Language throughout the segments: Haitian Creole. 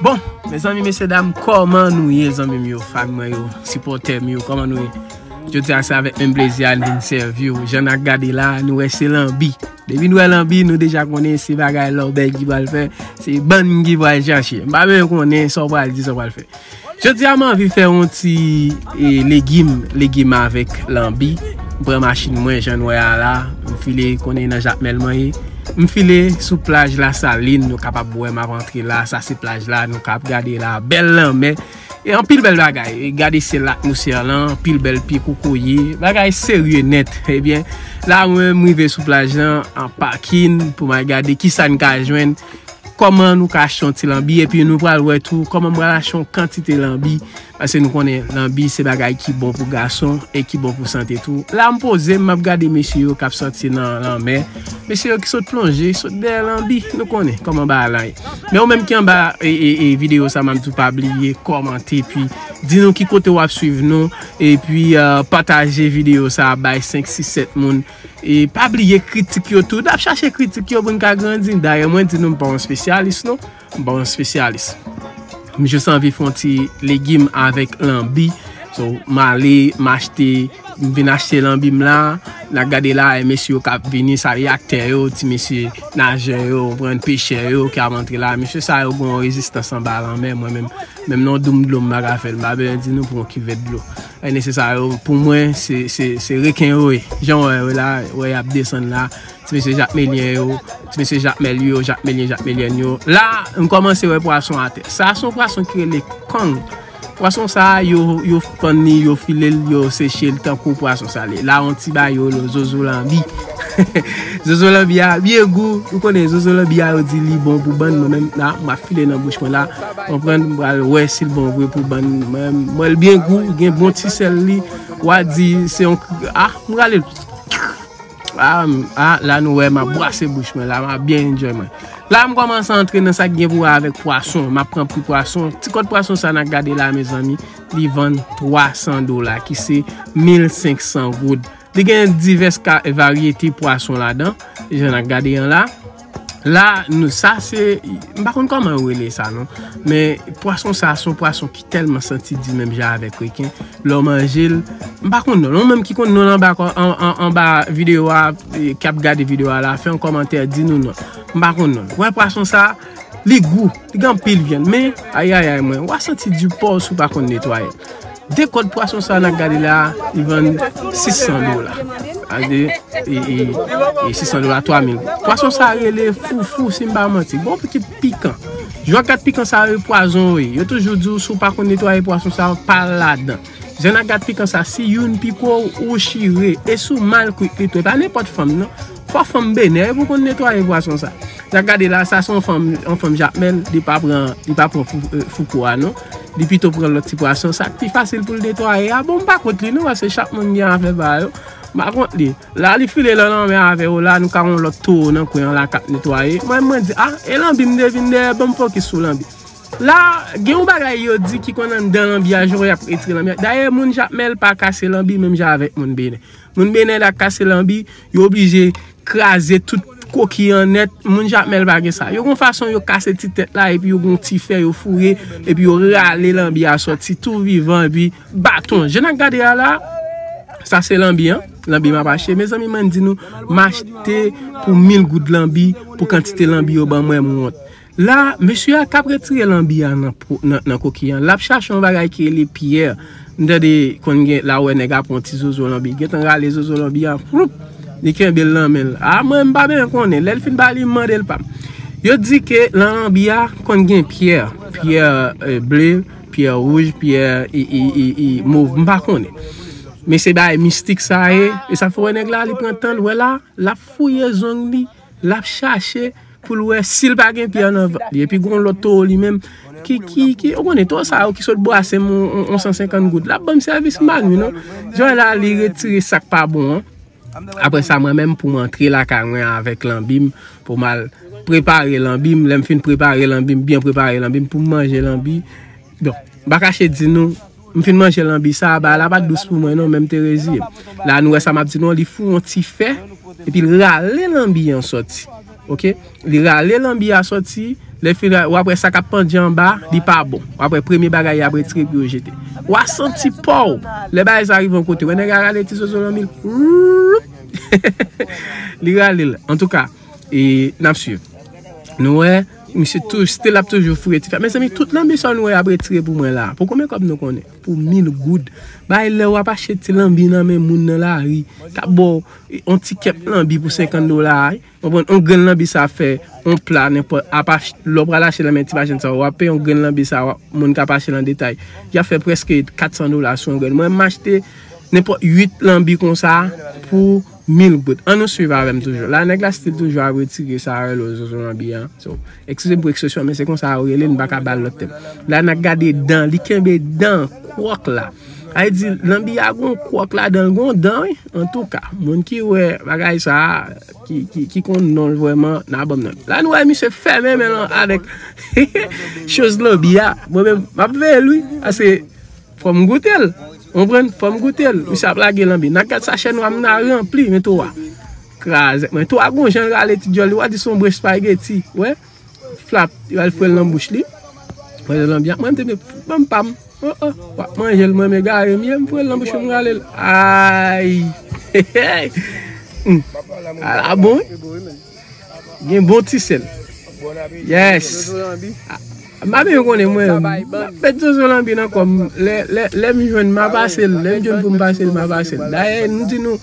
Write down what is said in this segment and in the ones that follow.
Bon mezanmi mesye dam koman nou ye zanmi m yo fan mwen yo sipotè m yo koman nou ye jodi a se avèk menm plezi a n vin sèvi w jan na gade la nou wè se lanbi depi nou wè lanbi nou deja konnen se bagay lòbèy ki pral fè se bann ki pral chache m pa bezwen konnen sa w pral di sa w pral fè. Jodi a m anvi fè yon ti legim, legim avèk lanbi. M pran machin mwen jan n wè a la, m file konnen nan Jakmèl mwen ye. M file sou plaj Lasalin, nou kapab wè m ap antre la, sa se plaj la, nou kab gade la, bèl lanmè. E anpil bèl bagay, gade syèl la, atmosfè lan, anpil bèl pye kokoye, bagay serye nèt. Ebyen, la mwen m rive sou plaj lan, an pakin pou m al gade ki sa n ka jwenn. Kòman nou ka achte yon ti lanbi epi nou pral wè tou kòman m pral achte yon kantite lanbi pase nou konnen lanbi se bagay ki bon pou gason e ki bon pou sante tou. La m poze m map gade mesye yo kap sòti nan lanmè, mesye yo ki sot plonje, sot dèyè lanbi, nou konnen kòman bagay la ye. Men ou menm ki anba videyo sa map di w pa bliye kòmante epi di nou ki kote wap swiv nou epi pataje videyo sa bay 5 6 7 moun E pa bliye kritik yo tou. Nap chache kritik yo pou n ka grandi. Dayè mwen di nou m pa yon spesyalis non. M pa yon spesyalis. M jis anvi fè yon ti legim avèk lanbi. So m ale m achte, m vin achte lanbi m la. Na gade la e mesye yo kap vini sa yo aktè yo, ti mesye najè yo, konprann, pechè yo ki ap antre la. Mesye sa yo gen yon rezistans anba lanmè mwen menm. Menm nan yon doum dlo m pa ka fè l. M pa bezwen di nou pou yon kivèt dlo. Ane se sa yo pou mwen se reken yo ye jan wè yo la wè yap desann la ti mesye jakmelyen yo ti mesye jakmel yo jakmelyen jakmelyèn yo la m kòmanse wè pwason atè sa son pwason ki rele kong pwason sa yo fann li yo file l yo seche l tankou pwason sa l ye la on ti bayo l yo zozo lanbi. Zozo lanbi a byen gou. Ou konnen zozo lanbi a yo di li bon pou bann. Mwen menm la mwen ap file nan bouch mwen la. Mwen pran mwen al wè si l bon vre pou bann. Mwen mwen l byen gou. Gen bon ti sèl li. Wa di se yon a mwen rale l. A la nou wè mwen bwase bouch mwen la. Mwen ap byen enjoy mwen. La mwen kòmanse antre nan sa k gen pou wè avèk pwason. Mwen ap pran pri pwason. Ti kòt pwason sa nan gade la mezanmi. Li vann 300 dola ki se 1500 goud. Li gen divès ka varyete pwason ladan, jan nan gade an la. La, nou sa se, m pa konn kòman yo rele sa non. Men, pwason sa, son pwason ki tèlman santi di menm jan avèk reken. Lè w manje l, m pa konn non l. Ou menm ki konn non l anba kò, anba videyo a, k ap gade videyo a la, fè yon kòmantè, di nou non. M pa konn non l. Wè pwason sa, li gou, li gen anpil vyann. Men, ayayay mwen, w a santi di paw si w pa konn netwaye l. De kòd pwason sa nap gade la li vann 600 dola a de e 600 dola 3000 goud pwason sa rele foufou sim pa manti bon pitit pikan jwak gat pikan sa yo pwazon wi yo toujou di ou si ou pa konn netwaye pwason sa yo pa ladan jan ak gat pikan sa si youn piko ou chire e si ou mal kwit li tou e pa nenpòt fanm nan Fò fanm benè pou konn netwaye pwason sa. Sa gade la sa son fanm yon fanm jakmel li pa pran li pa pran fouko a non li pito pran lòt ti pwason sak pi fasil poul netwaye a bon m pa kont li non paske chak moun gen afè pa yo m pa kont li la li file lan lanmè avè yo la nou ka won lòt towo nan kwen an la kap netwaye mwen mwen di a e lanbi m te vin dèyè banm fokis sou lanbi la gen yon bagay yo di ki konn anndan lanbi a jan w ap retire lanbi a dayè moun jakmèl pa kase lanbi menm jan avèk moun benè moun benè la kase lanbi Yo oblije kraze tout koki an nèt, moun Jakmèl pa gen sa. Yo gon fason yo kase ti tèt la epi yo gon ti fè yo foure epi yo rale lanbi a sòti tou vivan epi baton. Je nan gade a la, sa se lanbi an, lanbi m ap achte. Mezanmi mwen di nou, m achte pou mil goud lanbi pou kantite lanbi yo ban mwen m wont. La, mesye a t ap retire lanbi a nan kokiy an. L ap chache yon bagay ki rele pyè. M tande konn gen la ou wè nèg a pran yon ti zozo lanbi. Li gen tan rale zozo lanbi a, fwoup! Li kenbe l nan men l. A mwen, m pa byen konnen. Lè l fin ba li, m mande l pa m. Yo di ke nan lanbi a konn gen pyè. Pyè ble, pyè wouj, pyè mov. M pa konnen. Men se bagay mistik sa ye. E sa fè w wè nèg la, li pran tan l. Wè la, l ap fouye zong li. Lap chache poul wè sil pa gen pye nan vant li. Epi gon lòt towo li menm ki ki ki ou konnen towo sa yo ki sot bwasem yon 150 goud. Lap banm sèvis m'pa nwi non. Joy la li retire sak pa bon an. Aprè sa mwen menm poum antre lakay mwen avèk lanbim pou mal prepare lanbim. Lèm fin prepare lanbim byen prepare lanbim poum manje lanbi. Bon, m'pa kache di nou. M fin manje lanbi sa a ba la pa t dous pou mwen non men m te reziye m. La nou wè sa m ap di nou an li fou yon ti fè epi l rale lanbi an sòti ok li rale lanbi a sòti lè fin rale wap wè sa kap pandye anba li pa bon wap wè premye bagay yap retire epi yo jete wa santi paw lè bagay sa rive yon kote wè nèg la rale ti zozo lanbi l wouupp heheheh li rale l antouka e nap swiv nou wè. Misye touj stil ap toujou fouye ti fè. Mezanmi tout lanbi sa nou wè yap retire pou mwen la. Pou konbyen kòb nou konnen? Pou mil goud. Bay lè wap achte ti lanbi nan men moun nan lari. Kap ba w yon ti kep lanbi pou 50 dola. Konprann? Yon grenn lanbi sa fè yon pla nenpòt. Apa lè w pral achte nan men ti machann sa yo. Wap peye yon grenn lanbi sa wap moun kap achte nan detay. Yap fè prèske 400 dola sou yon grenn. Mwen menm m achte nenpòt 8 lanbi konsa pou. Mil goud. An nou swiv avèm toujou. La nèg la stil toujou ap retire sa yo rele zozo lanbi an. So, ekskizem pou ekspresyon men se konsa yo rele l, m pa ka bal lòt tèm. La n ap gade dan, li kenbe dan, kwòk la. Sa vle di lanbi a gon kwòk ladan l, gon dan wi. Antouka, moun ki wè bagay sa a, ki konn non l vrèman, nan banm non. La nou wè misye fèmen men l avèk choz lanbi a. Mwen menm, m ap veye l wi. Ase. Fòm goutel ou konprann fòm goutel misye ap lage lanbi nan gad sachè nwa m nan ranpli men towa krazèt mwen towa gon janl rale ti dyòl li wa di son bon espageti wè flap li al fwèl nan bouch li wè jan lanbi ap mwen m te mnde banm pam oh oh wap manjel mwen m egare m ye m fwèl nan bouch ou m ralel ayy hehey ala bon wi. Gen bon ti sel. Yes. Mami yo konnen mwen. Pet zozo lambi nan kom. Lè m jwenn ma pase l. Lè m jwenn pou m pase l ma pase l. Daye nou di nou.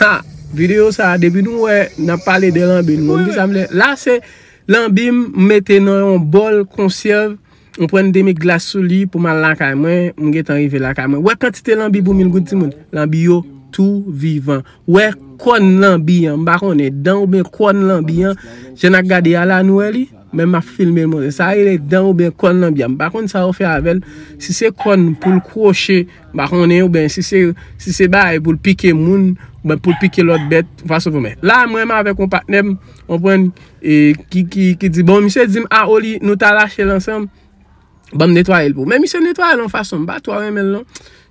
Ha. Video sa depi nou wè nan pale de lambi. Mwen m di sa m le. La se lambi m mete nan yon bol konsyev. M pran demi glas sou li pou m al lakay mwen. M gentan rive lakay mwen. Wè kantite lanbi pou mil goud timoun. Lanbi yo tou vivan. Wè kòn lanbi an. M pa konnen dan oubyen kòn lanbi an. Jan n ak gade a la nou wè li. Men m ap filme l montre. Sa rele dan oubyen kòn lanbi an. M pa konnen sa yo fè avè l. Si se kòn pou l kwoche. M pa konnen oubyen si se si se bagay pou l pike moun. Oubyen pou l pike lòt bèt. Ou pa sot konprann. La mwen menm avèk yon patnè m. Konprann. E Kiki ki di bon misye dim a oli nou ta rachel ansanm banm netwayel pou ou men misye netwayel yon fason m pa twò renmenl non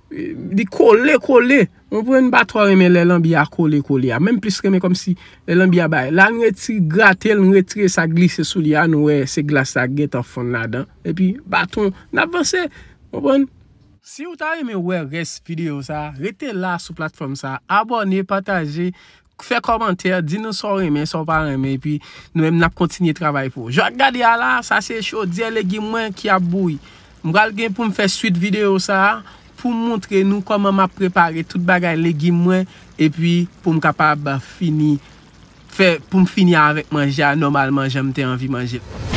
li kole kole ou konprann m pa twò renmen lè lanbi a kole kole a menm plis renmen kòmsi lè lanbi a bay la n reti gratel n retire sa k glise sou li a nou wè se glas la k gentan fonn ladan epi baton nap vanse ou konprann. Siw ta renmen wè rès video sa rete la sou platfòm sa abòne pataje Fè kòmantè, di nou sa w renmen, sa w pa renmen epi nou menm n ap kontinye travay pou ou. Jan w ap gade a la a, sa se chodyè legim mwen ki ap bouyi. M pral gen pou m fè swit videyo sa a pou m montre nou kòman m ap prepare tout bagay legim mwen epi pou m kapab fini fè pou m fini avèk manje a nòmalman jan m te anvi manje l.